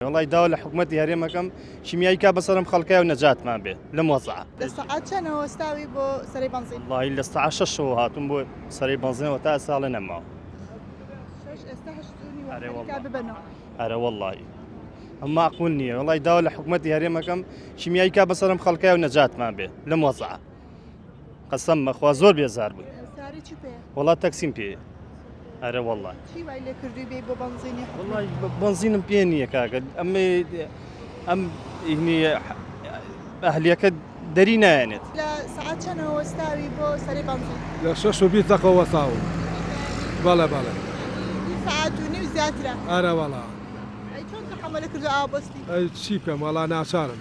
وەڵای داوا لە حکومەتی هەرێمەکەم شیمیایی کا بە سەرم خەڵکای و نەجاتمان بێ لەم وەزعە لە سەعات چەنە وەستاوی بۆ سەری بەنزین وڵی لە سەعات شەشەوە هاتووم بۆ سەری بەنزینەوە تا ساڵە نەماوە ئەرە وەڵی ئەم ماقول نییە وڵی داوا لە حکومەتی هەرێمەکەم شیمیایی کا بە سەرم خەڵکای و نەجاتمان بێ لەم وەزعە قەسەم مەخوا زۆر بێزار بووی وڵا تەکسیم پێ ئەرە وڵا بەنزینم پێ نییە کاکە ئەم ئەم ئەهلیەکە دەری نایەنێت لە شەش و بی تەقەوە تاون بەڵێ بەڵێ ئارەوەڵا چی بکەم وەڵا ناچارم